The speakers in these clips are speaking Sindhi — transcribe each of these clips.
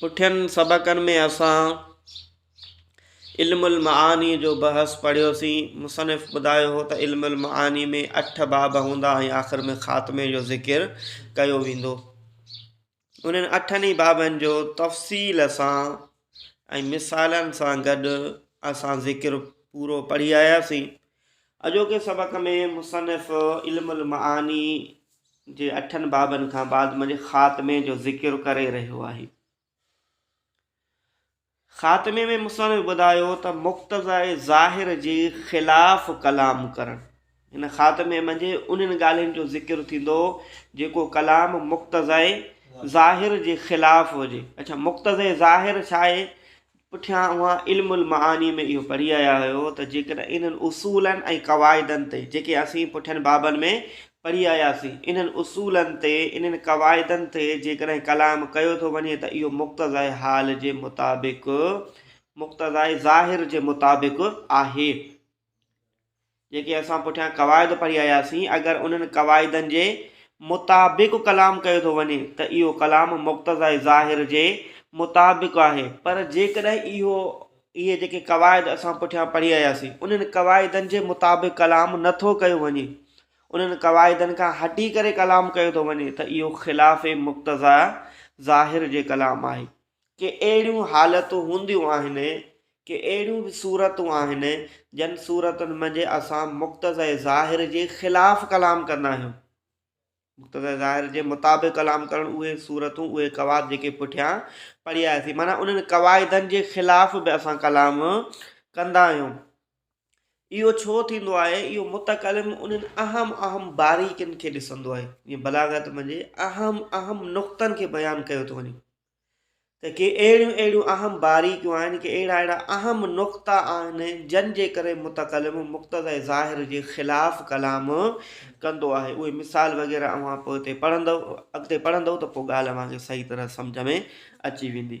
پٺين سبقن ۾ اسان علم المعاني جو بحث پڙهيوسين. مصنف ٻڌايو هو ته علم المعاني ۾ اٺ باب هوندا ۽ آخر ۾ خاتمي جو ذڪر ڪيو ويندو. انهن اٺن ئي بابن جو تفصيل سان ۽ مثالن سان گڏ اسان ذڪر پورو پڙهي آياسين. اڄوڪي سبق ۾ مصنف علم المعاني جي اٺن بابن کان بعد منجهه خاتمي جو ذڪر ڪري رهيو آهي. خاتمي ۾ مصنف ٻڌايو ته مقتضاء ظاهر جي خلاف ڪلام ڪرڻ هن خاتمي منجهه انهن ڳالهين جو ذڪر ٿيندو جيڪو ڪلام مقتضائي ظاهر جي خلاف هجي. اڇا مقتضي ظاهر ڇا آهي؟ پٺيان اوهان علم المعاني ۾ اهو پڙهي آيا آهيو ته جيڪڏهن انهن اصولن ۽ قواعدن تي جيڪي اسين پٺين بابن ۾ پڙهي آياسين انهن اصولن تي انهن قواعدن تي جيڪڏهن ڪلام ڪيو ٿو وڃي ته اهو مقتضائي حال جي مطابق مقتضائي ظاهر جي مطابق آهي. جيڪي اسان پٺيان قواعد پڙهي آياسين، اگر انهن قواعدن جي مطابق ڪلام ڪيو ٿو وڃي ته اهو ڪلام مقتضيٰ ظاهر جي مطابق آهي، پر جيڪڏهن اهو اهي جيڪي قواعد اسان پٺيان پڙهي آياسين، انهن قواعدن جي مطابق ڪلام نه ٿو ڪيو وڃي، انهن قواعدن کان هٽي ڪري ڪلام ڪيو ٿو وڃي ته اهو خلاف مقتضيٰ ظاهر جي ڪلام آهي. ڪي اهڙيون حالتون هونديون آهن، ڪي اهڙيون به صورتون آهن، جن صورتن منجهه اسان مقتضيٰ ظاهر جي خلاف ڪلام ڪندا آهيون. مقتضيٰ ظاهر جي مطابق ڪلام ڪرڻ اهي صورتون، اهي قواعد جيڪي پٺيان پڙهياسين، معنيٰ انهن قواعدن جي خلاف به اسان ڪلام ڪندا آهيون. اهو ڇو ٿيندو آهي؟ اهو متڪلم انهن اهم اهم باريڪين کي ڏسندو آهي، جيئن بلاغت ۾ جي اهم اهم نقطن کي بيان ڪيو ٿو وڃي ته ڪي اهڙيون اهڙيون اهم باريڪيون آهن، ڪي اهڙا اهڙا اهم نقطا آهن، جن جي ڪري متڪلم مقتضي ظاهر جي خلاف ڪلام ڪندو آهي. اهي مثال وغيره اوهان پوء تي پڙهندؤ، اڳتي پڙهندؤ ته پوء ڳالهه اوهان کي صحيح طرح سمجهه ۾ اچي ويندي.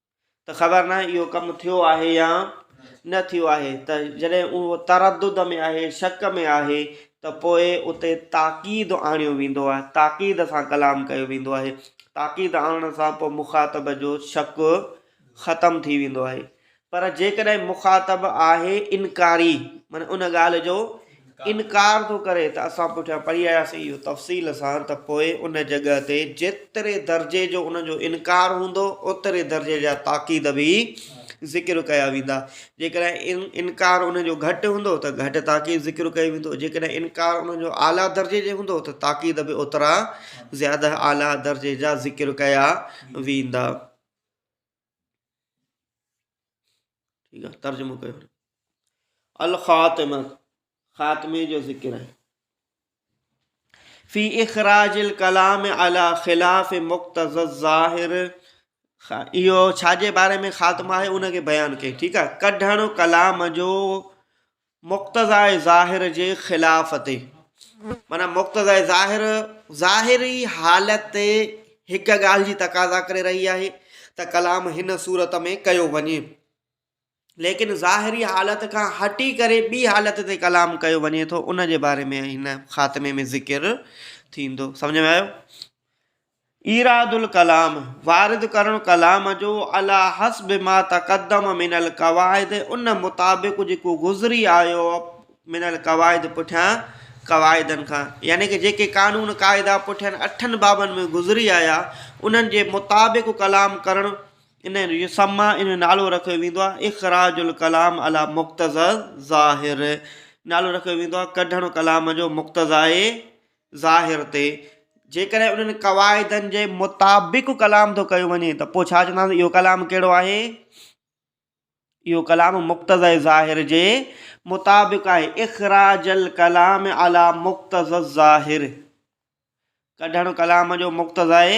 ته خبر ناهي اهو ڪم ٿيو آهي يا نه ٿيو آهي ته جڏهن اهو تردد ۾ آهي شڪ ۾ آهي ته پوء اتي تاڪيد آڻيو ويندو آهي تاڪيد سان ڪلام ڪيو ويندو آهي تاڪيد آڻڻ سان پوء مخاطب جو شڪ ختم ٿي ويندو آهي پر جيڪڏهن مخاطب آهي انڪاري معنيٰ ان ڳالهه جو انڪار ٿو ڪري ته اسان پٺيان پڙهي آياسين اهو تفصيل سان ته پوء ان جڳهه تي جيتري درجي جو ان جو انڪار هوندو اوتري درجي جا تاڪيد به ذڪر ڪيا ويندا جيڪڏهن انڪار ان جو گهٽ هوندو ته گهٽ تاڪيد ذڪر ڪيو ويندو جيڪڏهن انڪار ان جو اعليٰ درجي جي هوندو ته تاڪيد به اوترا زياده اعليٰ درجي جا ذڪر ڪيا ويندا. ٺيڪ آ ترجمو ڪيو الخاتمه خاتمه جو ذڪر آهي في اخراج الكلام على خلاف مقتض الظاهر اهو ڇاجي باري ۾ خاتمه آهي ان کي بيان ڪئي ٺيڪ آهي ڪڍڻ ڪلام جو مقتضاء ظاهر جي خلاف تي معنيٰ مقتضاء ظاهر ظاهري حالت هڪ ڳالهه جي تقاضا ڪري رهي آهي ته ڪلام هن صورت ۾ ڪيو وڃي ليڪن ظاهري حالت کان هٽي ڪري ٻي حالت تي ڪلام ڪيو وڃي ٿو ان جي باري ۾ هن خاتمي ۾ ذڪر ٿيندو سمجھ ۾ آيو ايراد الڪلام، وارد ڪرڻ ڪلام جو عليٰ حسب ما تقدم من القواعد ان مطابق جيڪو گذري آيو من القواعد پٺيان قواعدن کان يعني ڪه جيڪي قانون قاعدا پٺين اٺن بابن ۾ گذري آيا انهن جي مطابق ڪلام ڪرڻ ان يسميٰ ان نالو رکيو ويندو آهي اخراج الڪلام عليٰ مقتضيٰ الظاهر نالو رکيو ويندو آهي ڪڍڻ ڪلام جو مقتضيٰ ظاهر تي جيڪڏهن انهن قواعدن جي مطابق ڪلام ٿو ڪيو وڃي ته پوء ڇا چونداسين اهو ڪلام ڪهڙو آهي اهو ڪلام مقتضي ظاهر جي مطابق آهي اخراج الڪلام علي مقتضي الظاهر ڪڍڻ ڪلام جو مقتضي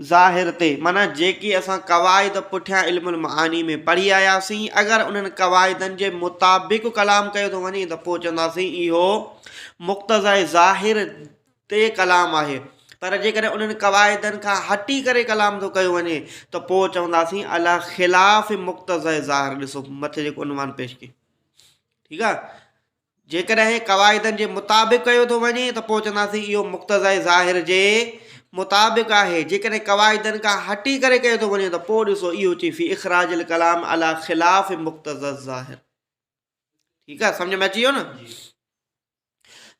ظاهر تي مانا جيڪي اسان قواعد پٺيان علم المعاني ۾ پڙهي آياسين اگر انهن قواعدن جي مطابق ڪلام ڪيو ٿو وڃي ته پوء چونداسين اهو مقتضائي ظاهر تي ڪلام آهي، پر جيڪڏهن انهن قواعدن کان هٽي ڪري ڪلام ٿو ڪيو وڃي ته پوء چونداسين عليٰ خلاف مقتضائي ظاهر ڏسو مٿي جيڪو عنوان پيش ڪيو ٺيڪ آهي جيڪڏهن قواعدن جي مطابق ڪيو ٿو وڃي ته پوء چونداسين اهو مقتضائي ظاهر جي مطابق آهي جيڪڏهن قواعدن کان هٽي ڪري ڪيو ٿو وڃي ته پوء ڏسو اهو چي في اخراج الڪلام عليٰ خلاف مقتض ظاهر ٺيڪ آ سمجھ ۾ اچي ويو نه جي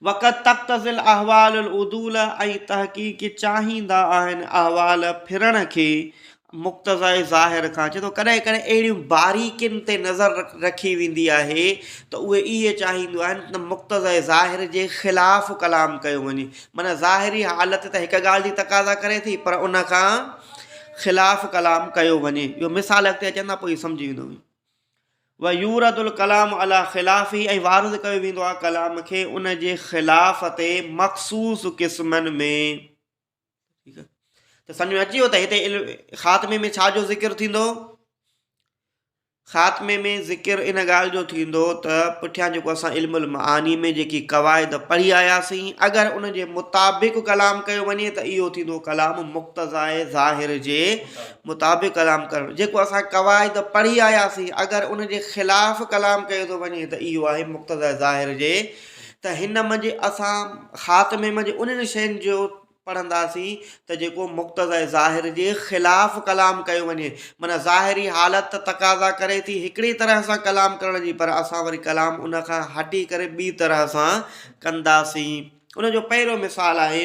وقت تقتضي الاحوال العدول ۽ تحقيق چاهيندا آهن احوال ڦرڻ کي مقتضاء ظاهر کان چي ٿو ڪڏهن ڪڏهن اهڙيون باريڪين تي نظر رکي ويندي آهي ته اهي اهي چاهيندو آهن ته مقتضاء ظاهر جي خلاف ڪلام ڪيو وڃي معنی ظاهري حالت ته هڪ ڳالهه جي تقاضا ڪري ٿي پر ان کان خلاف ڪلام ڪيو وڃي اهو مثال اڳتي اچن ٿا پوء سمجھي ويندو ويورد الڪلام علي خلافه ۽ وارد ڪيو ويندو آهي ڪلام کي ان جي خلاف تي مخصوص قسمن ۾ ته سمجھ ۾ اچي ويو ته هتي خاتمي ۾ ڇا جو ذڪر ٿيندو خاتمي ۾ ذڪر ان ڳالھ جو ٿيندو ته پٺيان جيڪو اسان علم المعاني ۾ جيڪي قواعد پڙهي آياسين اگر ان جي مطابق ڪلام ڪيو وڃي ته اهو ٿيندو ڪلام مقتضاء ظاهر جي مطابق ڪلام ڪرڻ جيڪو اسان قواعد پڙهي آياسين اگر ان جي خلاف ڪلام ڪيو ٿو وڃي ته اهو آهي مقتضيٰ ظاهر جي ته هن منجهه اسان خاتمي منجهه انهن شين جو پڙهنداسين ته جيڪو مقتضيٰ ظاهر جي خلاف ڪلام ڪيو وڃي معنيٰ ظاهري حالت ته تقاضا ڪري ٿي هڪڙي طرح سان ڪلام ڪرڻ جي پر اسان وري ڪلام ان کان هٽي ڪري ٻي طرح سان ڪنداسين ان جو پهريون مثال آهي.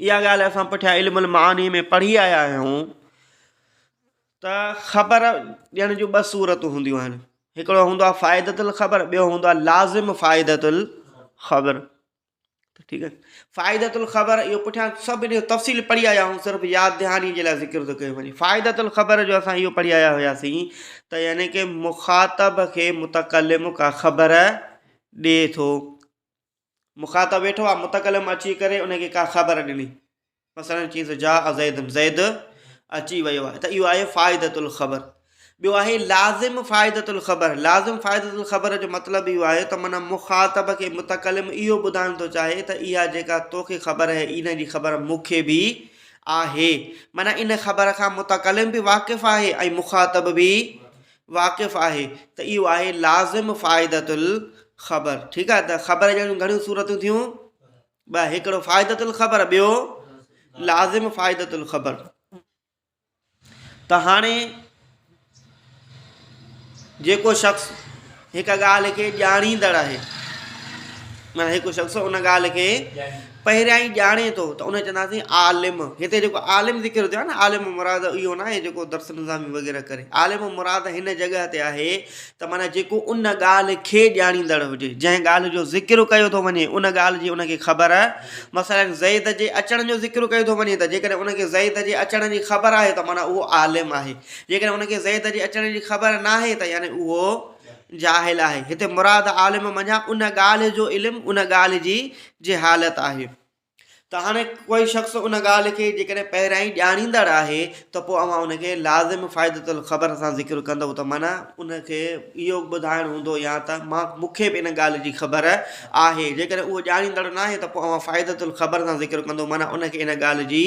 اها ڳالهه اسان پٺيان علم المعاني ۾ پڙهي آيا آهيون ته خبر ڏيڻ جون ٻه صورتون هونديون آهن هڪڙو هوندو آهي فائدة الخبر ٻيو هوندو آهي لازم فائدة الخبر ٺيڪ آهي فائدة الخبر اهو پٺيان سڀ ان جو تفصيل پڙهي آيا آهيون صرف ياد دهاني جي لاء ذڪر ٿو ڪيو وڃي فائدة الخبر جو اسان اهو پڙهي آيا هياسين ته يعني ڪي مخاطب کي متقلم کا خبر ڏي ٿو مخاطب ويٺو آ متڪلم اچي ڪري ان کي ڪا خبر ڏني مثلا چيس جاء زيد زيد اچي ويو آهي ته اهو آهي فائدة الخبر ٻيو آهي لازم فائدة الخبر لازم فائدة الخبر جو مطلب اهو آهي ته معنی مخاطب کي متڪلم اهو ٻڌائڻ ٿو چاهي ته اها جيڪا توکي خبر آهي ان جي خبر مون کي به آهي معنی ان خبر کان متڪلم به واقف آهي ۽ مخاطب به واقف آهي ته اهو آهي لازم فائدة الخبر ٺيڪ آهي ته خبر جهڙيون گهڻيون صورتون ٿيون ٻه هڪڙو فائدة الخبر ٻيو لازم فائدة الخبر ته هاڻي جيڪو شخص هڪ ڳالهه کي ڄاڻيندڙ آهي مانا هڪ شخص ان ڳالهه کي پهريائين ڄاڻي ٿو ته ان کي چونداسين عالم. هتي جيڪو عالم ذڪر ٿيو آهي نه عالم مراد اهو ناهي جيڪو درس نظامي وغيره ڪري. عالم مراد هن جڳهه تي آهي ته معنيٰ جيڪو ان ڳالهه کي ڄاڻيندڙ هجي. جنهن ڳالهه جو ذڪر ڪيو ٿو وڃي ان ڳالهه جي ان کي خبر مثلاً زيد جي اچڻ جو ذڪر ڪيو ٿو وڃي ته جيڪڏهن ان کي زيد جي اچڻ جي خبر آهي ته معنيٰ اهو عالم آهي. جيڪڏهن ان کي زيد جي اچڻ جي خبر ناهي ته يعني اهو جاهل آهي. هتي مراد عالم منجهان ان ڳالهه جو علم ان ڳالهه جي جي حالت آهي ته هاڻي ڪوئي شخص ان ڳالهه کي جيڪڏهن پهريائين ڄاڻيندڙ آهي ته پوء اوهان ان کي لازم فائدة الخبر سان ذڪر ڪندئو ته معنيٰ ان کي اهو ٻڌائڻ هوندو يا ته مان مون کي به ان ڳالهه جي خبر آهي جيڪڏهن اهو ڄاڻيندڙ ناهي ته پوء اوهان فائدة الخبر سان ذڪر ڪندئو معنيٰ ان کي ان ڳالهه جي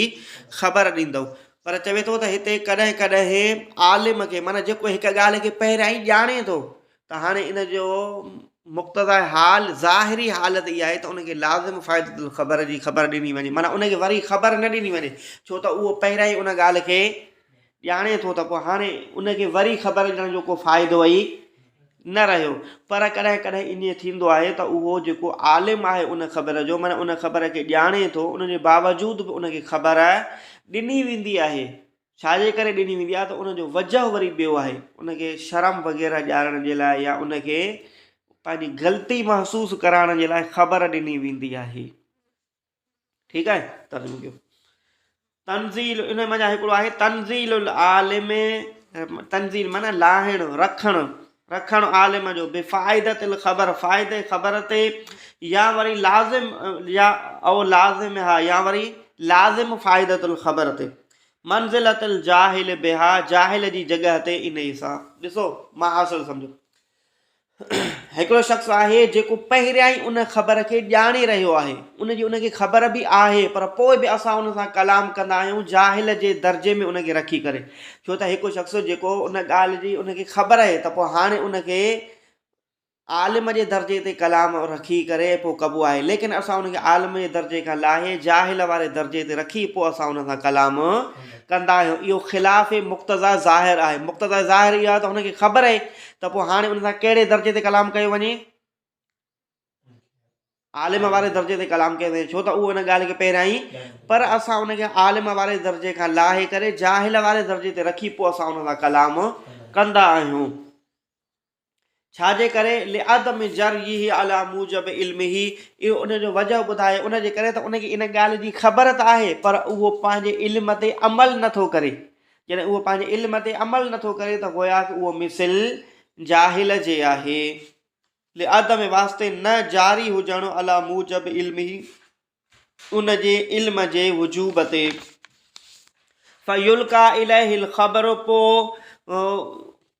خبر ڏيندئو پر چوي ٿو ته هتي ڪڏهن ڪڏهن عالم کي معنيٰ جيڪو هڪ ڳالهه کي پهريائين ڄاڻي ٿو ته هاڻي ان جو مقتضاء حال ظاهري حالت اها آهي ته ان کي لازم فائدة الخبر جي خبر ڏني وڃي معنيٰ ان کي وري خبر نه ڏني وڃي ڇو ته اهو پهريان ئي ان ڳالهه کي ڄاڻي ٿو ته پوء هاڻي ان کي وري خبر ڏيڻ جو ڪو فائدو ئي نه رهيو پر ڪڏهن ڪڏهن ائين ٿيندو آهي ته اهو جيڪو عالم آهي ان خبر جو معنيٰ ان خبر کي ڄاڻي ٿو ان جي باوجود به ان کي خبر ڏني ويندي آهي ڇاجي ڪري ڏني ويندي آهي ته ان جو وجهه وري ٻيو آهي ان کي شرم وغيره ڏيارڻ جي لاء يا ان کي پنهنجي غلطي محسوس ڪرائڻ جي لاء خبر ڏني ويندي آهي ٺيڪ آهي ترجمو ڪيو تنزيل ان مانا هڪڙو آهي تنزيل العالم تنزيل مانا لاهڻ رکڻ رکڻ عالم جو بفائدت الخبر فائده خبر تي يا وري لازم يا او لازم ها يا وري لازم فائدت الخبر تي منزلة الجاهل بها جاهل جي جڳهه تي انهي سان. ڏسو مان حاصل سمجهو هڪڙو شخص آهي جيڪو پهريائين ان خبر کي ڄاڻي رهيو آهي ان جي ان کي خبر به آهي پر پوء به اسان ان سان ڪلام ڪندا آهيون جاهل جي درجي ۾ ان کي رکي ڪري ڇو ته هڪ شخص جيڪو ان ڳالهه جي ان کي خبر آهي ته پوء هاڻي ان کي عالم جي درجي تي ڪلام رکي ڪري پوء ڪبو آهي ليڪن اسان ان کي عالم جي درجي کان لاهي جاهل واري درجي تي رکي پوء اسان ان سان ڪلام ڪندا آهيون اهو خلاف مقتضا ظاهر آهي مقتضا ظاهر اهو آهي ته هن کي خبر آهي ته پوء هاڻي ان سان ڪهڙي درجي تي ڪلام ڪيو وڃي عالم واري درجي تي ڪلام ڪيو وڃي ڇو ته اهو ان ڳالهه کي پهريائي پر اسان ان کي عالم واري درجي کان لاهي ڪري جاهل واري درجي تي رکي پوء اسان ان سان ڪلام ڪندا آهيون ڇا جي ڪري لعدم ذريه علي موجب علمه اهو ان جو وجه ٻڌائي ان جي ڪري ته ان کي ان ڳالهه جي خبر ته آهي پر اهو پنهنجي علم تي عمل نٿو ڪري جڏهن اهو پنهنجي علم تي عمل نٿو ڪري ته گويا ته اهو مثل جاهل جي آهي لعدم واسطي نه جاري هجڻ علي موجب علمه ان جي علم جي وجوب تي. فيلقا اليه الخبر پو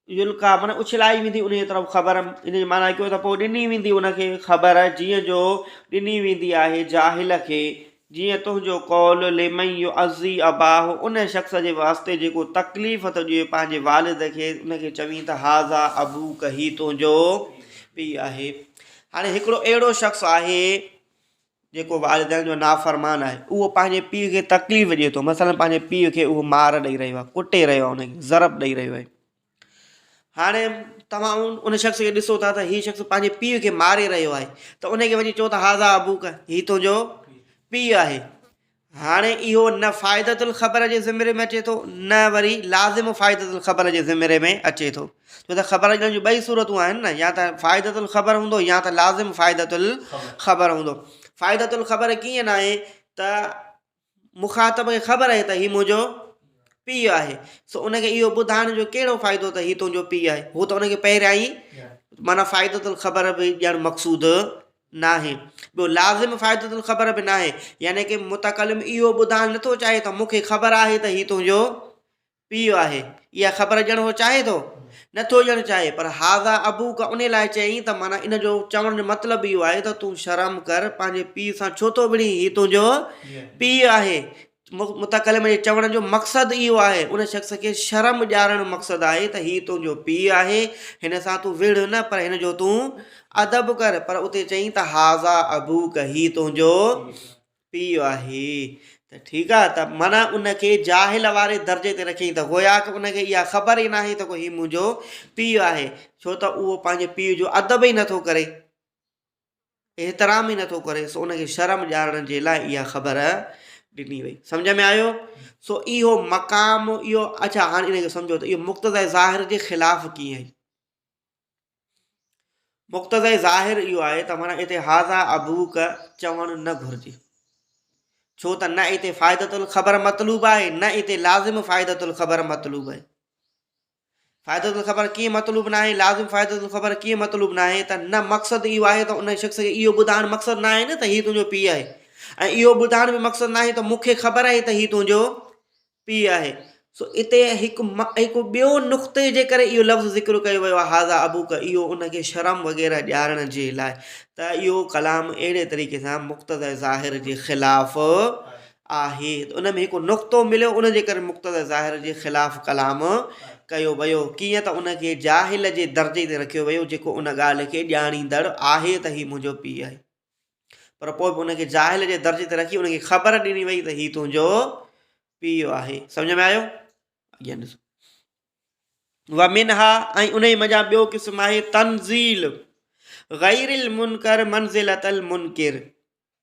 يلقا معنی اڇلائي ويندي ان جي طرف خبر ان جي معنی ڪيو ته پو ڏني ويندي ان کي خبر جيئن جو ڏني ويندي آهي جاهل کي جيئن تنهنجو قول لمن يعزي اباه ان شخص جي واسطي جيڪو تڪليف ٿو ڏئي پنهنجي والد کي ان کي چوين ته هذا ابوڪ هي تنهنجو پي آهي هاڻي هڪڙو اهڙو شخص آهي جيڪو والدين جو نافرمان آهي اهو پنهنجي پيء کي تڪليف ڏئي ٿو مثلاً پنهنجي پيء کي اهو مار ڏئي رهيو آهي ڪٽي رهيو آهي انکي ضرب ڏئي رهيو آهي هاڻي توهان ان شخص کي ڏسو ٿا ته هي شخص پنهنجي پيء کي ماري رهيو آهي ته انکي وڃي چئو ته هذا ابوڪ هي تنهنجو پيء آهي هاڻي اهو نه فائدة الخبر جي ضمري ۾ اچي ٿو نه وري لازم فائدة الخبر جي ضمري ۾ اچي ٿو ڇو ته خبر اچڻ جون ٻئي صورتون آهن نه يا ته فائدة الخبر هوندو يا ته لازم فائدة الخبر هوندو فائدة الخبر ڪيئن نه آهي ته مخاطب کي خبر آهي ته هي منهنجو پيء آهي سو ان کي اهو ٻڌائڻ جو ڪهڙو فائدو ته هي تنهنجو پيء آهي هو ته ان کي پهريان ئي معنيٰ فائدة الخبر به ڄڻ مقصود ناهي، ٻيو لازم فائدة الخبر به ناهي، يعني ڪي متڪلم اهو ٻڌائڻ نٿو چاهي ته مون کي خبر آهي ته هي تنهنجو پيء آهي، اها خبر ڏيڻ هو چاهي ٿو؟ نٿو ڏيڻ چاهي، پر هذا ابوڪ ان لاء چيائين ته معنيٰ ان جو چوڻ جو مطلب اهو آهي ته تون شرم ڪر، پنهنجي پيء سان ڇو ٿو وڙهين، هي تنهنجو پيء آهي، متڪلم جي چوڻ جو مقصد اهو آهي، ان شخص کي شرم ڏيارڻ مقصد آهي ته هي تنهنجو پيء آهي، هن سان تون وڙهه نه پر هن جو تون ادب ڪر، پر اتي چيائين ته هٰذا ابوڪ، هي تنهنجو پيء آهي ته ٺيڪ آهي ته معنيٰ ان کي جاهل واري درجي تي رکيائين ته گويا ڪه ان کي اها خبر ئي ناهي ته ڪو هي منهنجو پيء آهي، ڇو ته اهو پنهنجي پيء جو ادب ئي نٿو ڪري. احترام ئي نٿو ڪري سو ان کي شرم ڄاڻڻ جي لاء اها خبر ڏني وئي. سمجهه ۾ آيو؟ سو اهو مقام اهو اڇا هاڻي ان کي سمجهو ته اهو مقتضي ظاهر جي خلاف ڪيئن آهي؟ مقتضي ظاهر اهو آهي ته معنيٰ اتي هاذا ابوڪ چوڻ نه گهرجي ڇو ته نه اتي فائدة الخبر مطلوب آهي نه اتي لازم فائدة الخبر مطلوب آهي. فائدة الخبر ڪيئن مطلوب ناهي، لازم فائدة الخبر ڪيئن مطلوب ناهي ته نه مقصد اهو آهي ته ان شخص کي اهو ٻڌائڻ مقصد ناهي نه ته هي تنهنجو پيء آهي ۽ اهو ٻڌائڻ به مقصد ناهي ته مون کي خبر آهي ته هي تنهنجو پيء آهي سو اتي هڪ هڪ ٻيو نقطي جي ڪري اهو لفظ ذڪر ڪيو ويو آهي هذا ابوڪ اهو ان کي شرم وغيره ڏيارڻ جي لاء ته اهو ڪلام اهڙي طريقي سان مقتض ظاهر جي خلاف آهي ته ان ۾ هڪ نقطو مليو ان جي ڪري مقتضيٰ ظاهر جي خلاف ڪلام ڪيو ويو ڪيئن ته ان کي جاهل جي درجي تي رکيو ويو جيڪو ان ڳالهه کي ڄاڻيندڙ آهي ته هي منهنجو پيء آهي پر پوء به ان کي جاهل جي درجي تي رکي ان کي خبر ڏني وئي ته هي تنهنجو پيء آهي سمجھ ۾ آيو اڳيان ڏسو ومنها ۽ ان منجھان ٻيو قسم آهي تنزيل غير المنکر منزلت المنکر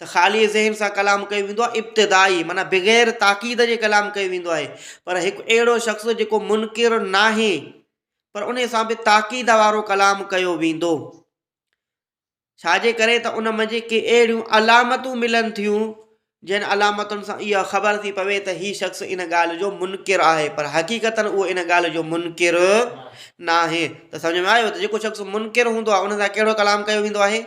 ته خالي ذهن سان ڪلام ڪيو ويندو آهي، ابتدائي معنيٰ بغير تاڪيد جي ڪلام ڪيو ويندو آهي، پر هڪ اهڙو شخص جيڪو منڪر ناهي پر انهي سان به تاڪيد وارو ڪلام ڪيو ويندو، ڇا جي ڪري ته ان منجهه ڪي اهڙيون علامتون ملن ٿيون جن علامتن سان اها خبر ٿي پوي ته هي شخص ان ڳالهه جو منڪر آهي پر حقيقتاً اهو ان ڳالهه جو منڪر ناهي ته سمجهه ۾ آيو ته جيڪو شخص منڪر هوندو آهي ان سان ڪهڙو ڪلام ڪيو ويندو آهي.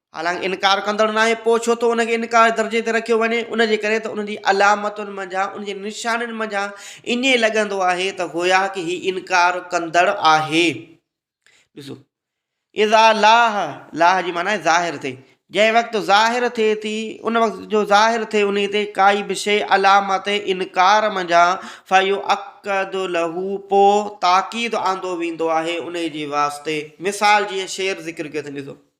حالانڪ انڪار ڪندڙ ناهي، پوء ڇو ٿو ان کي انڪار جي درجي تي رکيو وڃي؟ ان جي ڪري ته ان جي علامتن منجهان، ان جي نشانين منجهان ائين لڳندو آهي ته گويا ڪه هي انڪار ڪندڙ آهي. ڏسو، اذا لاح، لاح جي معنيٰ آهي ظاهر ٿئي، جنهن وقت ظاهر ٿئي ٿي، ان وقت جو ظاهر ٿئي انهيء تي ڪائي به شيء علامت انڪار منجهان فيؤڪد له پوء تاڪيد آندو ويندو آهي انهيء جي واسطي. مثال جيئن شعر ذڪر ڪيو اٿن، ڏسو.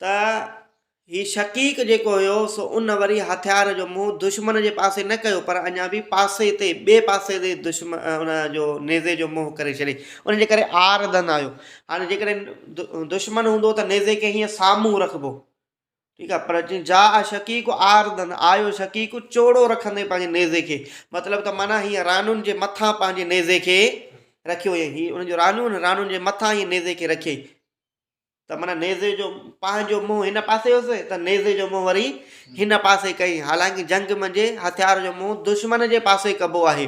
ته هي شقيق جيڪو هيو سو ان وري هٿيار جو منهن دشمن جي پاسي نه ڪيو پر اڃا به پاسي تي ٻئي پاسي تي دشمن ان جو نيزي جو منهن ڪري ڇڏي ان جي ڪري آر ڌن آيو هاڻي جيڪڏهن دشمن هوندو ته نيزي کي هيئن سامهون رکبو ٺيڪ آهي پر جي جا شقيق آر ڌن آيو شقيق چوڙو رکندي پنهنجي نيزي کي مطلب ته معنيٰ هيئن رانون جي مٿان پنهنجي نيزي کي رکيو هيئي هي ان جو رانون رانون جي مٿان هيئي نيزي کي رکيئي ته معنيٰ نيزي جو پنهنجو منهن هن پاسي هوس ته نيزي جو منهن وري هن پاسي ڪئين حالانڪه جنگ منجهه هٿيار جو منهن دشمن جي پاسي ڪبو آهي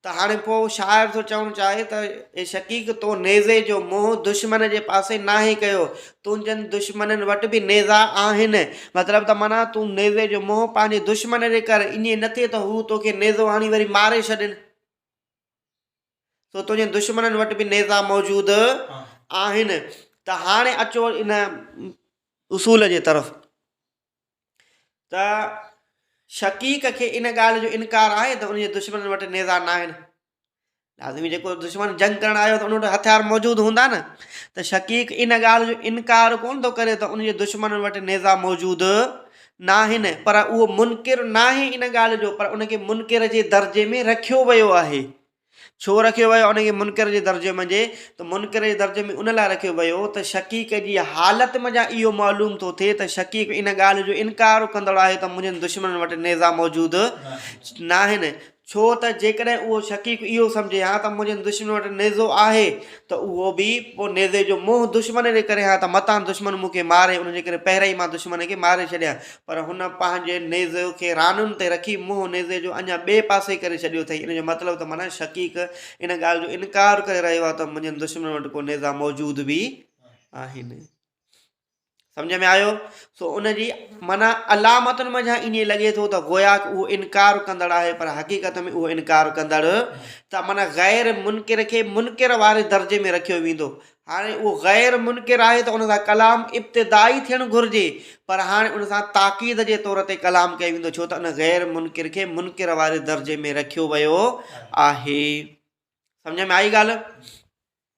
ته هاڻي پوء شاعر ٿو چوڻ چاهي ته اي شقيق تو نيزي جو منهن دشمن جي پاسي ناهي ڪيو تنهنجن دشمنن وٽ به نيزا آهن مطلب ته معنيٰ تون نيزي جو منهن پنهنجي دشمن جي ڪر ائين نه ٿئي ته هو توکي نيزو هڻي وري ماري ڇڏين. سو تنهنجي دشمنن وٽ به نيزا موجود آهن. ته هاڻي اچو ان اصول جي طرف ته شقيق کي ان ڳالهه جو انڪار آهي ته ان جي دشمنن وٽ نيزا نه آهن. لازمي جيڪو دشمن جنگ ڪرڻ آيو ته ان وٽ هٿيار موجود هوندا نه ته شقيق ان ڳالهه جو انڪار ڪونه ٿو ڪري ته ان جي دشمنن وٽ نيزا موجود ناهن پر اهو منڪر ناهي ان ڳالهه جو پر ان کي منڪر جي درجي ۾ رکيو ويو آهي ڇو رکيو ويو ان کي منڪر جي درجي منجهي ته منڪر جي درجي ۾ ان لاء رکيو ويو ته شڪيق جي حالت منجهان اهو معلوم ٿو ٿئي ته شڪيق ان ڳالهه جو انڪار ڪندڙ آهي ته منهنجن دشمنن وٽ نيزا موجود ناهن ڇو ته جيڪڏهن اهو شقيق اهو سمجهي ها ته منهنجي دشمن وٽ نيزو آهي ته اهو به پوء نيزي جو منهن دشمن ڏي ڪري ها ته متان دشمن مون کي ماري ان جي ڪري پهريائين مان دشمن کي ماري ڇڏيان پر هن پنهنجي نيزي کي رانن تي رکي منهن نيزي جو اڃا ٻئي پاسي ڪري ڇڏيو اٿئي ان جو مطلب ته معنيٰ شقيق ان ڳالهه جو انڪار ڪري رهيو آهي ته منهنجن دشمنن وٽ ڪو نيزا موجود به آهن. سمجهه ۾ آيو سو ان جي معنيٰ علامتن منجهان ائين لڳي ٿو ته گويا اهو انڪار ڪندڙ آهي پر حقيقت ۾ اهو انڪار ڪندڙ ته معنی غير منڪر کي منڪر واري درجي ۾ رکيو ويندو هاڻي اهو غير منڪر آهي ته ان سان ڪلام ابتدائي ٿيڻ گهرجي پر هاڻي ان سان تاڪيد جي طور تي ڪلام ڪيو ويندو ڇو ته ان غير منڪر کي منڪر واري درجي ۾ رکيو ويو آهي سمجھ ۾ آئي ڳالھ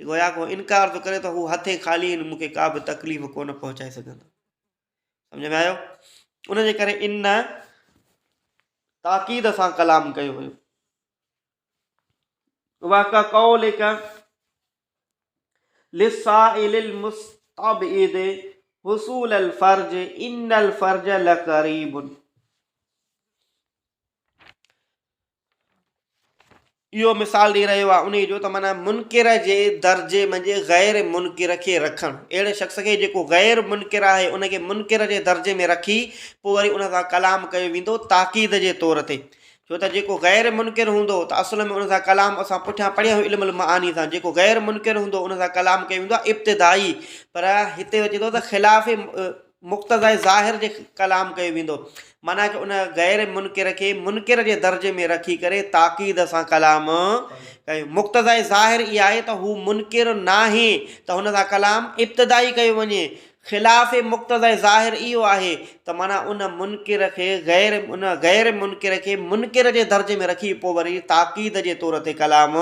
جي گويا ڪو انڪار ٿو ڪري ته هو هٿين خالي آهن مون کي ڪا به تڪليف ڪونه پهچائي سگهندا سمجھ ۾ آيو ان جي ڪري ان تاڪيد سان ڪلام ڪيو ويو واقع قولك لسائل المستبعد حصول الفرج ان الفرج لقريب اهو مثال ڏئي رهيو آهي انهيء جو ته معنيٰ منڪر جي درجي منجهه غير منڪر کي رکڻ اهڙي شخص کي جيڪو غير منڪر آهي ان کي منڪر جي درجي ۾ رکي پوء وري ان سان ڪلام ڪيو ويندو تاڪيد جي طور تي ڇو ته جيڪو غير منڪر هوندو ته اصل ۾ ان سان ڪلام اسان پٺيان پڙهيو علم المعاني سان جيڪو غير منڪر هوندو ان سان ڪلام ڪيو ويندو آهي ابتدائي پر هتي اچي ٿو ته خلاف مقتضاء ظاهر جي ڪلام ڪيو ويندو. معنيٰ ته ان غير منڪر کي منڪر جي درجي ۾ رکي ڪري تاڪيد سان ڪلام ڪيو. مقتضاء ظاهر اها آهي ته هو منڪر ناهي ته هن سان ڪلام ابتدائي ڪيو وڃي. خلاف مقتضاء ظاهر اهو آهي ته معنيٰ ان منڪر کي غير ان غير منڪر کي منڪر جي درجي ۾ رکي پوء وري تاڪيد جي طور تي ڪلام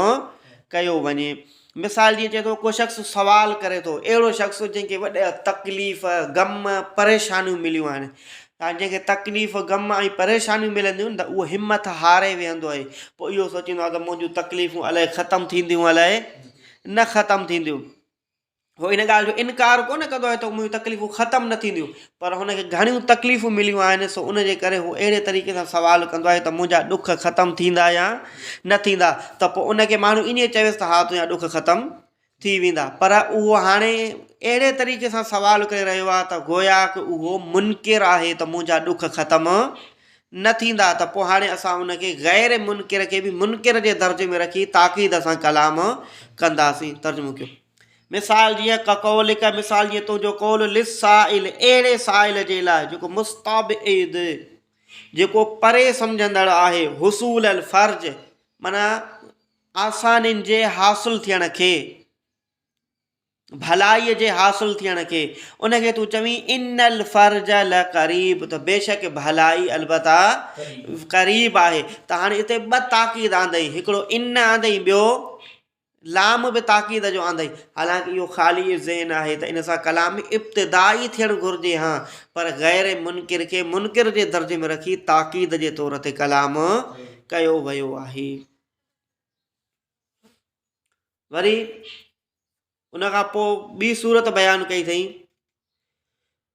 ڪيو وڃي. مثال جيئن چئي ٿو ڪو شخص سوال ڪري ٿو اهڙو شخص جنهن کي وڏا تڪليف، غم، پريشانيون مليون آهن ۽ جنهن کي تڪليف، غم ۽ پريشانيون ملنديون ته اهو همٿ هاري ويهندو آهي پوء اهو سوچيندو آهي ته منهنجون تڪليفون الائي ختم ٿينديون الائي نه ختم ٿينديون. هو ان ڳالهه جو انڪار ڪو نه ڪندو آهي ته منهنجون تڪليفون ختم نه ٿينديون پر هن کي گهڻيون تڪليفون مليون آهن سو ان جي ڪري هو اهڙي طريقي سان سوال ڪندو آهي ته منهنجا ڏک ختم ٿيندا يا نه ٿيندا ته پوء ان کي ماڻهو ائين چويس ته ها تنهنجا ڏک ختم ٿي ويندا پر اهو هاڻي اهڙي طريقي سان سوال ڪري رهيو آهي ته گويا ڪه اهو منڪر آهي ته منهنجا ڏک ختم نه ٿيندا ته پوء هاڻي اسان ان کي غير منڪر کي به منڪر جي درجي ۾ رکي تاڪيد سان ڪلام ڪنداسين ترجمو ڪيو مثال جيئن ڪقولڪ مثال جيئن تنهنجو قول للسائل اهڙي سائل جي لاء جيڪو مستبعد جيڪو پري سمجهندڙ آهي حصول الفرج معنيٰ آسانين جي حاصل ٿيڻ کي ڀلائي جي حاصل ٿيڻ کي ان کي تون چوين ان الفرج لقريب ته بيشڪ ڀلائي البته قريب آهي ته هاڻي هتي ٻه تاڪيد آندئي هڪڙو ان آندئي ٻيو لام به تاڪيد جو آندئي. حالانڪ اهو خالي الذهن آهي ته ان سان ڪلام ابتدائي ٿيڻ گهرجي ها پر غير منڪر کي منڪر جي درجي ۾ رکي تاڪيد جي طور تي ڪلام ڪيو ويو آهي. وري ان کان پوء ٻي صورت بيان ڪئي اٿئي.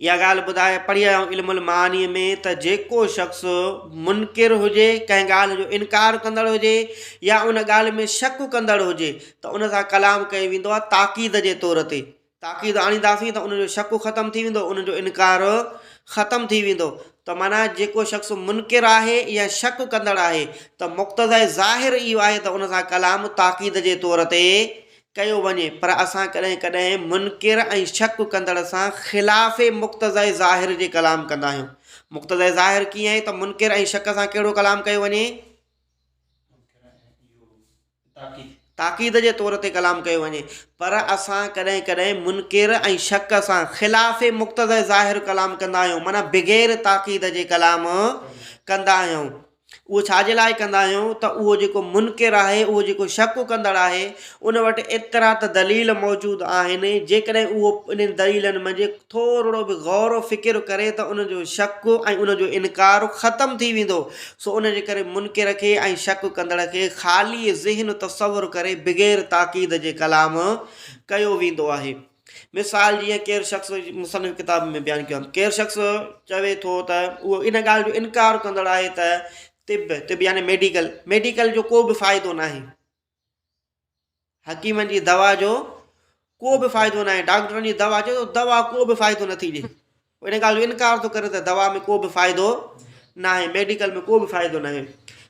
اها ڳالهه ٻڌائي پڙهي آيو علم المعاني ۾ ته جيڪو شخص منڪر هجي ڪنهن ڳالهه جو انڪار ڪندڙ هجي يا ان ڳالهه ۾ شڪ ڪندڙ هجي ته ان سان ڪلام ڪيو ويندو آهي تاڪيد جي طور تي تاڪيد آڻينداسين ته ان جو شڪ ختم ٿي ويندو ان جو انڪار ختم ٿي ويندو ته مانا جيڪو شخص منڪر آهي يا شڪ ڪندڙ آهي ته مقتض ظاهر اهو آهي ته ان سان ڪلام تاڪيد جي طور تي ڪيو وڃي پر اسان ڪڏهن ڪڏهن منڪر ۽ شڪ ڪندڙ سان خلاف مقتضي ظاهر جي ڪلام ڪندا آهيون مقتضي ظاهر ڪيئن آهي ته منڪر ۽ شڪ سان ڪهڙو ڪلام ڪيو وڃي تاڪيد جي طور تي ڪلام ڪيو وڃي پر اسان ڪڏهن ڪڏهن منڪر ۽ شڪ سان خلاف مقتضي ظاهر ڪلام ڪندا آهيون معنيٰ بغير تاڪيد جي ڪلام ڪندا آهيون اهو ڇا جي لاء ڪندا آهيون ته اهو جيڪو منڪر آهي، اهو جيڪو شڪ ڪندڙ آهي، ان وٽ ايترا ته دليل موجود آهن، جيڪڏهن اهو انهن دليلن منجهه ٿورڙو به غور و فڪر ڪري ته ان جو شڪ ۽ ان جو انڪار ختم ٿي ويندو، سو ان جي ڪري منڪر کي ۽ شڪ ڪندڙ کي خالي ذهن تصور ڪري بغير تاڪيد جي ڪلام ڪيو ويندو آهي. مثال جيئن ڪير شخص، مصنف ڪتاب ۾ بيان ڪيو آهي، ڪير شخص چوي ٿو ته اهو ان ڳالهه جو انڪار ڪندڙ آهي ته طب، طب يعني ميڊيڪل، ميڊيڪل جو ڪو به فائدو ناهي، حڪيمن جي دوا جو ڪو به فائدو ناهي، ڊاڪٽرن جي دوا جو دوا ڪو به فائدو نٿي ڏئي. هو ان ڳالهه جو انڪار ٿو ڪري ته دوا ۾ ڪو به فائدو ناهي، ميڊيڪل ۾ ڪو به فائدو ناهي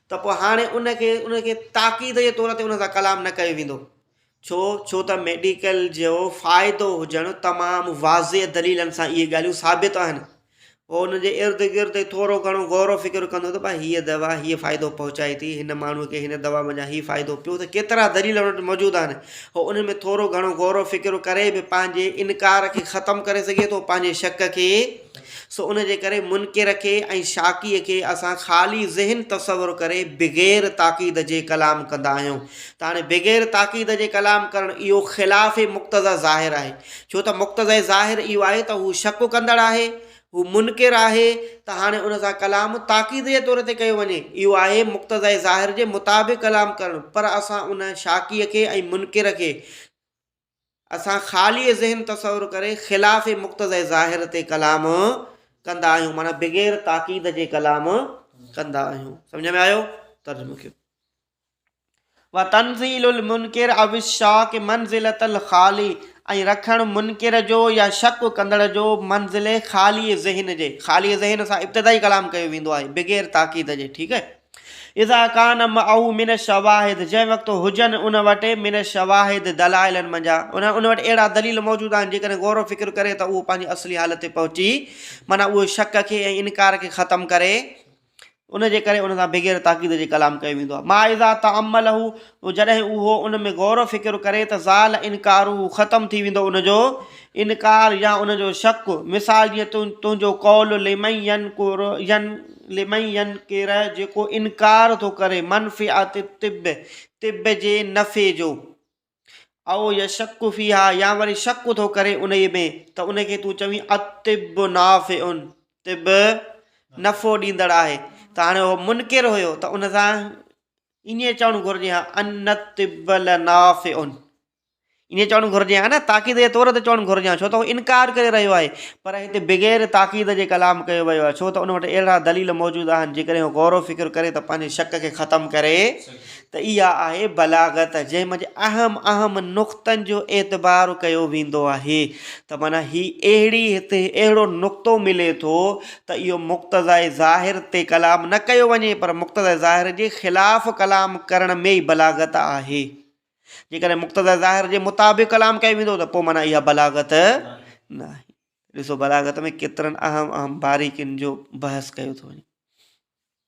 ته پوء هاڻي ان کي ان کي تاڪيد جي طور تي ان سان ڪلام نه ڪيو ويندو. ڇو؟ ڇو ته ميڊيڪل جو فائدو هجڻ تمام واضح دليلن سان اهي ڳالهيون ثابت آهن. هو ان جي ارد گرد ٿورو گهڻو غور و فڪر ڪندو ته ڀاء هيء دوا هيء فائدو پهچائي ٿي، هن ماڻهوء کي هن دوا منجهان هي فائدو پيو ته ڪيترا دليل ان وٽ موجود آهن. هو انهن ۾ ٿورو گهڻو غور و فڪر ڪري به پنهنجي انڪار کي ختم ڪري سگهي ٿو پنهنجي شڪ کي سو ان جي ڪري منڪر کي ۽ شاڪيء کي اسان خالي ذهن تصور ڪري بغير تاڪيد جي ڪلام ڪندا آهيون ته هاڻي بغير تاڪيد جي ڪلام ڪرڻ اهو خلاف مقتضيٰ ظاهر آهي ڇو ته مقتضيٰ ظاهر اهو آهي ته هو شڪ ڪندڙ آهي هو منڪر آهي ته هاڻي ان سان ڪلام تاڪيد جي طور تي ڪيو وڃي، اهو آهي مقتضي ظاهر جي مطابق ڪلام ڪرڻ، پر اسان ان شاڪيء کي ۽ منڪر کي اسان خالي ذهن تصور ڪري خلاف مقتضي ظاهر تي ڪلام ڪندا آهيون معنيٰ بغير تاڪيد جي ڪلام ڪندا آهيون سمجهه ۾ آيو ترجمو ڪيو. وتنزيل المنڪر او الشاڪ منزلة الخالي ۽ رکڻ منڪر جو يا شڪ ڪندڙ جو منزل خالي ذهن جي خالي ذهن سان ابتدائي ڪلام ڪيو ويندو آهي بغير تاڪيد جي ٺيڪ اذا ڪان معه من الشواهد جنهن وقت هجن ان وٽ من الشواهد دلائلن منجها ان ان وٽ اهڙا دليل موجود آهن جيڪڏهن غور و فڪر ڪري ته اهو پنهنجي اصلي حالت تي پهچي معنيٰ اهو شڪ کي ۽ انڪار کي ختم ڪري ان جي ڪري ان سان بغير تاڪيد جي ڪلام ڪيو ويندو آهي. ما اذا تامله تو جڏهن اهو ان ۾ غور و فڪر ڪري ته زال انڪاره ختم ٿي ويندو ان جو انڪار يا ان جو شڪ مثال جيئن تنهنجو قول لمن ينڪر ين لمن ينڪر جيڪو انڪار ٿو ڪري منفعت الطب طب جي نفعي جو او يشڪ فيها يا وري شڪ ٿو ڪري انهي ۾ ته ان کي تون چوين الطب نافع طب نفعو ڏيندڙ آهي ته هاڻي هو منڪر هيو ته ان سان ائين چوڻ گهرجي ها ان الطب لنافع ائين چوڻ گهرجي ها نه تاڪيد جي طور تي چوڻ گهرجي ها ڇو ته هو انڪار ڪري رهيو آهي پر هتي بغير تاڪيد جي ڪلام ڪيو ويو آهي ڇو ته ان وٽ اهڙا دليل موجود آهن جيڪڏهن هو غور و فڪر ڪري ته پنهنجي شڪ کي ختم ڪري ته اها آهي بلاغت جنهن منجهه اهم اهم نقطن جو اعتبار ڪيو ويندو آهي ته معنيٰ هي اهڙي هتي اهڙو نقطو ملي ٿو ته اهو مقتضائي ظاهر تي ڪلام نه ڪيو وڃي پر مقتضائي ظاهر جي خلاف ڪلام ڪرڻ ۾ ئي بلاغت آهي جيڪڏهن مقتضائي ظاهر جي مطابق ڪلام ڪيو ويندو ته پوء معنيٰ اها بلاغت ناهي ڏسو بلاغت ۾ ڪيترن اهم اهم باريڪين جو بحث ڪيو ٿو وڃي.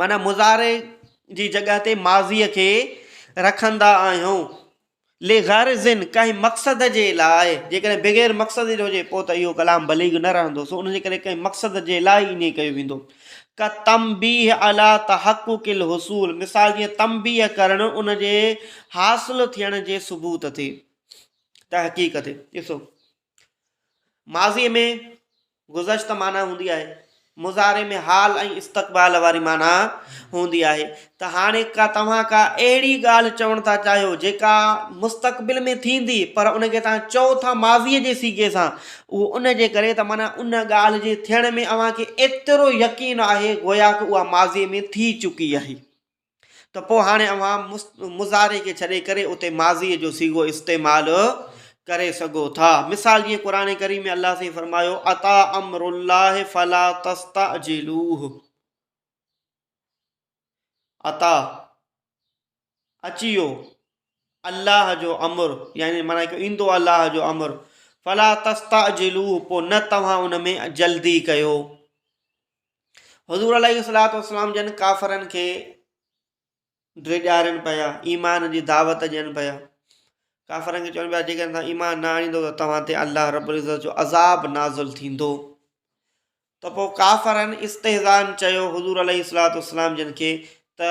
معنيٰ مضارعي جي جڳهه تي ماضيء کي رکندا آهيون. لغرض ڪنهن مقصد جي لاء، جيڪڏهن بغير مقصد جي هجي پوء ته اهو ڪلام بليغ نه رهندو، سو ان جي ڪري ڪنهن مقصد جي لاء ائين ڪيو ويندو. ڪالتنبيه علي تحقق الحصول، مثال جيئن تنبيه ڪرڻ ان جي حاصل ٿيڻ جي ثبوت تي، تحقيق تي. ڏسو. ماضيء ۾ گذشته معنيٰ هوندي آهي، مضارع ۾ حال ۽ استقبال واري معنيٰ هوندي آهي ته هاڻي ڪا توهان ڪا اهڙي ڳالهه چوڻ ٿا چاهيو جيڪا مستقبل ۾ ٿيندي پر ان کي توهان چئو ٿا ماضيء جي صيغي سان اهو ان جي ڪري ته معنيٰ ان ڳالهه جي ٿيڻ ۾ اوهان کي ايترو يقين آهي گويا ته اها ماضيء ۾ ٿي چڪي آهي. ته پوء هاڻي اوهان مضارع کي ڇڏي ڪري اتي ماضيء جو صيغو استعمال ڪري سگهو ٿا. مثال جيئن قرآن ڪريم ۾ الله سائين فرمايو، اتٰ امر الله فلا تستعجلوه. اتٰ، اچي ويو، الله جو امر، يعني معنيٰ ته ايندو الله جو امر، فلا تستعجلوه، پوء نه توهان ان ۾ جلدي ڪيو. حضور عليه الصلاة والسلام جن ڪافرن کي ڊيڄارين پيا ايمان جي دعوت ڏين پيا ڪافرن کي چون پيا جيڪڏهن توهان ايمان نه آڻيندو ته توهان تي الله رب العزت جو عذاب نازل ٿيندو ته پوء ڪافرن استحزان چيو حضور عليه الصلاة والسلام جن کي ته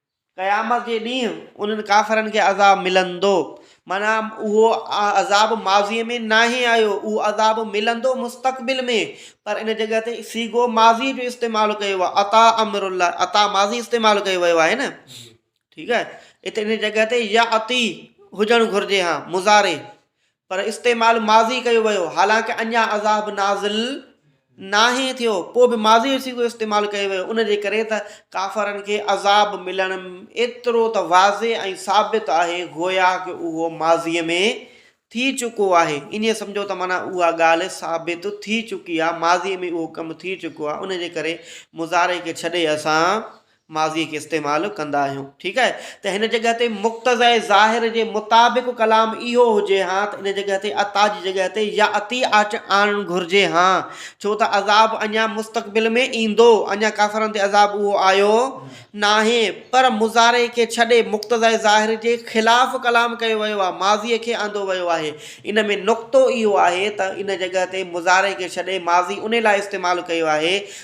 قيامت جي ڏينهن انهن ڪافرن کي عذاب ملندو. معنيٰ اهو عذاب ماضيء ۾ ناهي آيو، اهو عذاب ملندو مستقبل ۾، پر ان جڳهه تي صيغو ماضيء جو استعمال ڪيو ويو آهي، اتيٰ امر الله، اتيٰ ماضي استعمال ڪيو ويو آهي نه، ٺيڪ آهي، اتي ان جي جڳهه تي ياتي هجڻ گهرجي ها مضارع، پر استعمال ماضي ڪيو ويو حالانڪ اڃا عذاب نازل ناهي ٿيو پوء به ماضي جو صيغو استعمال ڪيو ويو ان جي ڪري ته ڪافرن کي عذاب ملڻ ايترو ته واضح ۽ ثابت آهي گويا ڪه اهو ماضي ۾ ٿي چڪو آهي ائين سمجهو ته معنيٰ اها ڳالهه ثابت ٿي چڪي آهي ماضي ۾ اهو ڪم ٿي چڪو آهي ان جي ڪري مضارع کي ڇڏي اسان ماضيء کي استعمال ڪندا آهيون. ٺيڪ آهي ته هن جڳهه تي مقتضيٰ ظاهر جي مطابق ڪلام اهو هجي ها ته ان جڳهه تي اتيٰ جي جڳهه تي ياتي اچ آڻڻ گهرجي ها ڇو ته عذاب اڃا مستقبل ۾ ايندو. اڃا ڪافرن تي عذاب اهو آيو ناهي. پر مضارع کي ڇڏي مقتضيٰ ظاهر جي خلاف ڪلام ڪيو ويو آهي. ماضيء کي آندو ويو آهي. ان ۾ نقطو اهو آهي ته ان جڳهه تي مضارع کي ڇڏي ماضي انهي لاء استعمال ڪيو آهي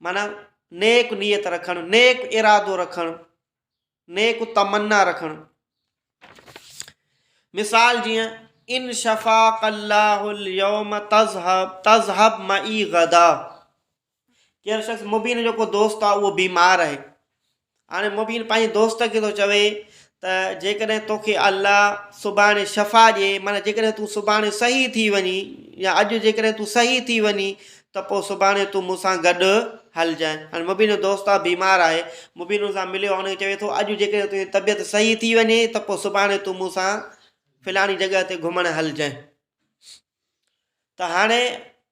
معنيٰ نيڪ نيت رکڻ، نيڪ ارادو رکڻ، نيڪ تمنا رکڻ. مثال جيئن ان شفاق الله اليوم تذهب تذهب معي غدا ڪير شخص مبين جو ڪو دوست آهي اهو بيمار آهي هاڻي مبين پنهنجي دوست کي ٿو چوي ته جيڪڏهن توکي الله سڀاڻي شفا ڏئي معنيٰ جيڪڏهن تون سڀاڻي صحيح ٿي وڃي يا اڄ جيڪڏهن تون صحيح ٿي وڃي ته پوء سڀاڻي تون مون سان گڏ هلجانء هاڻي مبين جو دوست آ بيمار آهي مبين ان سان مليو هن کي چوي ٿو اڄ جيڪڏهن تنهنجي طبيعت صحيح ٿي وڃي ته پوء سڀاڻي تون مون سان فلاڻي جڳهه تي گهمڻ هلجانء ته هاڻي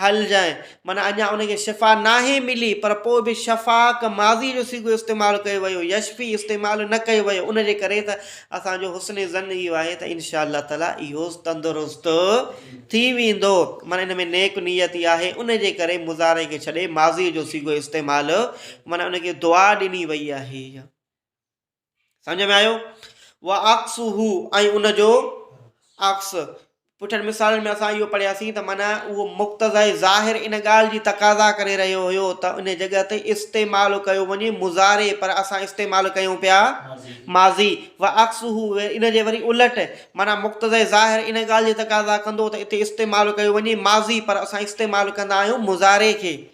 حل جانء معنيٰ اڃا ان کي شفا ناهي ملي پر پوء به شفاق ماضي جو صيغو استعمال ڪيو ويو يشفي استعمال نه ڪيو ويو ان جي ڪري ته اسان جو حسن ظن اهو آهي ته انشاء الله تعالٰي اهو تندرست ٿي ويندو معنيٰ ان ۾ نيڪ نيتي آهي ان جي ڪري مضارع کي ڇڏي ماضي جو صيغو استعمال معنيٰ ان کي دعا ڏني وئي آهي. سمجهه ۾ آيو وعڪسه ۽ ان جو عڪس پٺن مثالن ۾ اسان اهو پڙهياسين ته مانا اهو مقتضاء ظاهر ان ڳالهه جي تقاضا ڪري رهيو هيو ته ان جڳهه تي استعمال ڪيو وڃي مضارع پر اسان استعمال ڪيون پيا ماضي و عڪس هو ان جي وري الٽ مانا مقتضاء ظاهر ان ڳالهه جي تقاضا ڪندو ته هتي استعمال ڪيو وڃي ماضي پر اسان استعمال ڪندا آهيون مضارع کي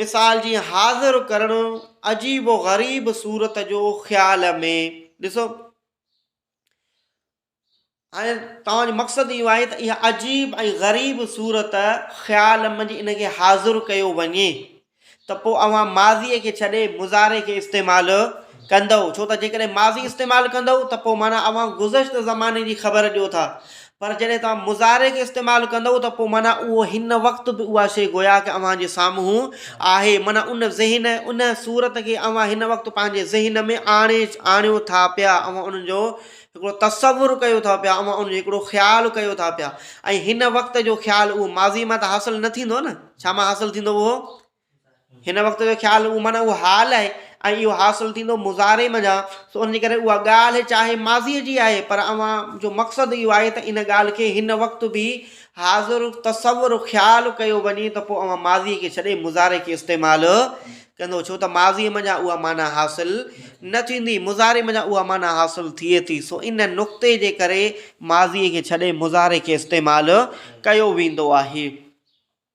مثال جيئن حاضر ڪرڻ عجيب و غريب صورت جو خيال ۾ ڏسو هاڻي توهان جو مقصد اهو آهي ته اها عجيب ۽ غريب صورت خيال منجهه ان کي حاضر ڪيو وڃي ته پوء اوهان ماضيء کي ڇڏي مظاهري کي استعمال ڪندو ڇو ته جيڪڏهن ماضي استعمال ڪندو ته پوء معنيٰ اوهان گذشته زماني جي خبر ڏيو ٿا پر جڏهن توهان مضارع کي استعمال ڪندؤ ته پوء معنيٰ اهو هن وقت به اها شيء گويا ڪه اوهان جي سامهون آهي، معنيٰ ان ذهن ۽ ان صورت کي اوهان هن وقت پنهنجي ذهن ۾ آڻي آڻيو ٿا پيا، اوهان ان جو هڪڙو تصور ڪيو ٿا پيا، اوهان ان جو هڪڙو خيال ڪيو ٿا پيا ۽ هن وقت جو خيال اهو ماضيء مان ته حاصل نه ٿيندو نه، ڇا مان حاصل ٿيندو اهو؟ هن وقت جو خيال اهو معنيٰ اهو حال آهي ۽ اهو حاصل ٿيندو مضارع منجهان سو ان جي ڪري اها ڳالهه چاهي ماضيء جي آهي پر اوهان جو مقصد اهو آهي ته ان ڳالهه کي هن وقت به حاضر تصور خيال ڪيو وڃي ته پوء اوهان ماضيء کي ڇڏي مضارع کي استعمال ڪندو ڇو ته ماضيء منجهان اها معنيٰ حاصل نه ٿيندي مضارع منجهان اها معنيٰ حاصل ٿئي ٿي سو ان نقطي جي ڪري ماضيء کي ڇڏي مضارع کي استعمال ڪيو ويندو آهي.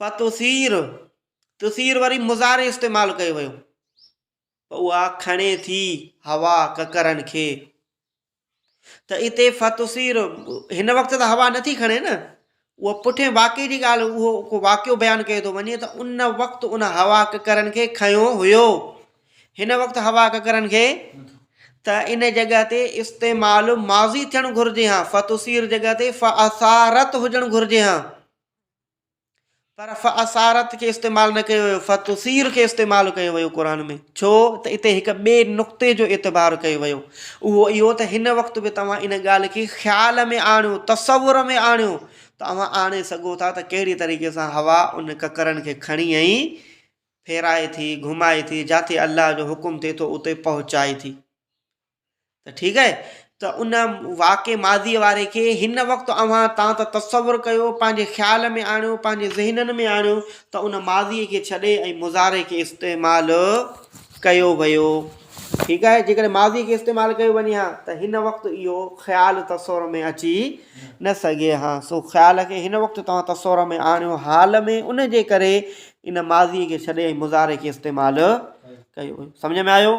فتثير، ثثير وري مضارع استعمال ڪيو ويو، پوء اها کڻي ٿي هوا ڪڪرن کي، ته اتي فتثير هن وقت ته هوا نٿي کڻي نه، اها پٺين واقعي جي ڳالهه اهو ڪو واقعو بيان ڪيو ٿو وڃي ته ان وقت ان هوا ڪڪرن کي کنيو هيو، هن وقت هوا ڪڪرن کي ته ان جڳهه تي استعمال ماضي ٿيڻ گهرجي ها، فتثير جڳهه تي فاثارت هجڻ گهرجي ها. پر فاثارت کي استعمال نه ڪيو ويو فتثير کي استعمال ڪيو ويو قرآن ۾ ڇو ته اتي هڪ ٻئي نقطي جو اعتبار ڪيو ويو اهو اهو ته هن وقت به توهان ان ڳالهه کي خيال ۾ آڻيو تصور ۾ آڻيو ته اوهان آڻي سگهو ٿا ته ڪهڙي طريقي سان هوا ان ڪڪرن کي کڻي ۽ ڦيرائي ٿي گهمائي ٿي جاٿي الله جو حڪم ٿئي ٿو اتي پهچائي ٿي ته ٺيڪ آهي ته ان واقع ماضي واري کي هن وقت اوهان تان ته تصور ڪيو پنهنجي خيال ۾ آڻيو پنهنجي ذهنن ۾ آڻيو ته ان ماضي کي ڇڏي ۽ مضارع کي استعمال ڪيو ويو ٺيڪ آهي جيڪڏهن ماضي کي استعمال ڪيو وڃي ها ته هن وقت اهو خيال تصور ۾ اچي نه سگهي ها سو خيال کي هن وقت توهان تصور ۾ آڻيو حال ۾ ان جي ڪري ان ماضي کي ڇڏي ۽ مضارع کي استعمال ڪيو سمجھ ۾ آيو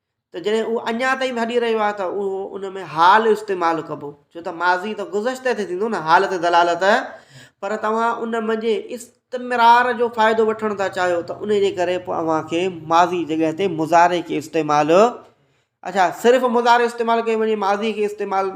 ته جڏهن اهو اڃا تائين به هلي رهيو آهي ته اهو ان ۾ حال استعمال ڪبو ڇو ته ماضي ته گذشته تي ٿيندو نه حال تي دلالت پر توهان ان منجهي استمرار جو فائدو وٺڻ ٿا چاهيو ته ان جي ڪري پوء اوهان کي ماضي جڳهه تي مظاهري کي استعمال اچا صرف مظاهري استعمال ڪيو وڃي ماضي کي استعمال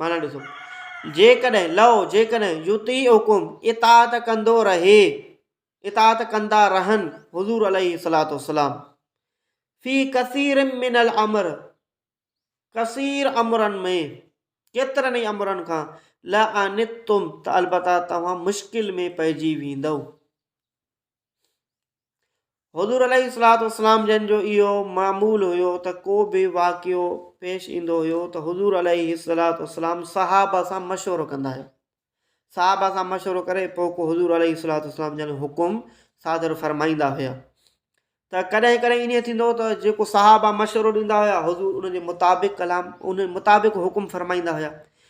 معنيٰ ڏسو، جيڪڏهن، لو جيڪڏهن، يطيعڪم اطاعت ڪندو رهي، اطاعت ڪندا رهن حضور عليه الصلاة والسلام في كثير من الامر ڪثير امرن ۾ ڪيترن ئي امرن کان لعنتم ته البته توهان مشڪل ۾ پئجي ويندو حضور عليه الصلاة والسلام جن جو اهو معمول هيو ته ڪو به واقعو پيش ايندو هيو ته حضور عليه الصلاة والسلام صحابه سان مشورو ڪندا هيا صحابه سان مشورو ڪري پوء ڪو حضور عليه الصلاة والسلام جن حڪم صادر فرمائيندا هيا ته ڪڏهن ڪڏهن ائين ٿيندو ته جيڪو صحابه مشورو ڏيندا هيا حضور ان جي مطابق ڪلام ان مطابق حڪم فرمائيندا هيا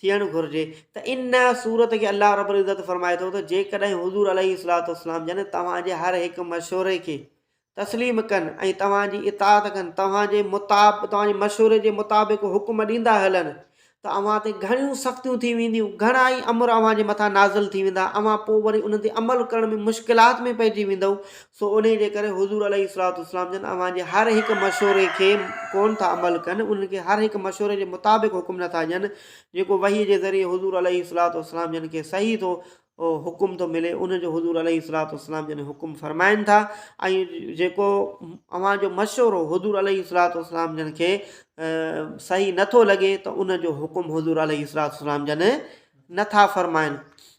ٿيڻ گهرجي ته ان صورت کي الله رب العزت فرمائي ٿو ته جيڪڏهن حضور عليه الصلاة والسلام جن توهان جي هر هڪ مشوري کي تسليم ڪن ۽ توهان جي اطاعت ڪن توهان جي مطاب توهان جي مشوري جي مطابق حڪم ڏيندا هلن ته اوهان تي گهڻيون سختيون ٿي وينديون گهڻا ئي امر اوهان جي مٿان نازل ٿي ويندا اوهان پوء وري انهن تي عمل ڪرڻ ۾ مشڪلات ۾ پئجي ويندؤ سو انهيء جي ڪري حضور عليه الصلوة والسلام جن اوهان جي هر هڪ مشوري کي ڪونه ٿا عمل ڪن انهن کي هر هڪ مشوري جي مطابق حڪم نه ٿا ڏين جيڪو وحي جي ذريعي حضور عليه الصلوة والسلام جن کي صحيح ٿو حڪم ٿو ملي ان جو حضور عليه الصلوة والسلام جن حڪم فرمائن ٿا ۽ جيڪو اوهان جو مشورو حضور عليه الصلوة والسلام جن کي صحيح نٿو لڳي ته ان جو حڪم حضور عليه الصلوة والسلام جن نٿا فرمائن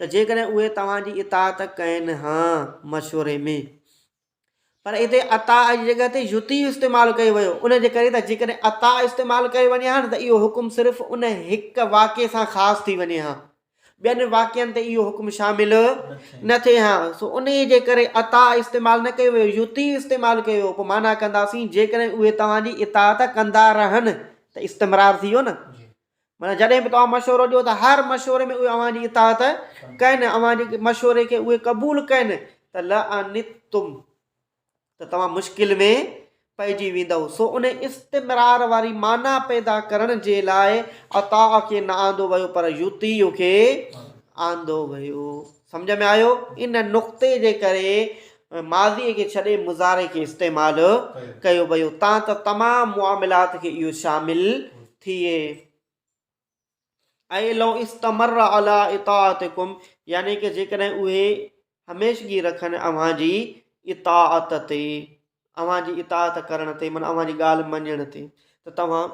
ته جيڪڏهن اهي توهان جي اطاعت ڪين ها مشوري ۾. پر هتي عطاء جي جڳهه تي يطيع استعمال ڪيو ويو ان جي ڪري ته جيڪڏهن عطاء استعمال ڪيو وڃي ها نه ته اهو حڪم صرف ان هڪ واقعي سان خاص ٿي وڃي ها ٻين واقعن تي اهو حڪم شامل نه ٿئي ها سو ان جي ڪري عطاء استعمال نه ڪيو ويو يطيع استعمال ڪيو ويو پوء معنيٰ ڪنداسين جيڪڏهن اهي توهان جي اطاعت ڪندا رهن ته استمرار ٿي ويو نه معنيٰ جڏهن به توهان مشورو ڏيو ته هر مشوري ۾ اهي اوهان جي اطاعت ڪن، اوهان جي مشوري کي اهي قبول ڪن ته لعنتم ته توهان مشڪل ۾ پئجي ويندؤ. سو ان استمرار واري معنيٰ پيدا ڪرڻ جي لاء اطاع کي نه آندو ويو پر يطيع کي آندو ويو. سمجهه ۾ آيو؟ ان نقطي جي ڪري ماضي کي ڇڏي مضارع کي استعمال ڪيو ويو تان ته تمام معاملات کي اهو شامل ٿئي. اي لو استمر علي اطاعتڪم يعني ڪه جيڪڏهن اهي هميشگي رکن اوهان جي اطاعت تي، اوهان جي اطاعت ڪرڻ تي معنيٰ اوهان جي ڳالهه مڃڻ تي ته توهان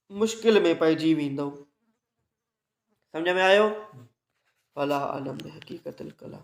مشڪل ۾ پئجي ويندؤ. سمجهه ۾ آيو؟ فلا عالم بحقيقت الڪلام.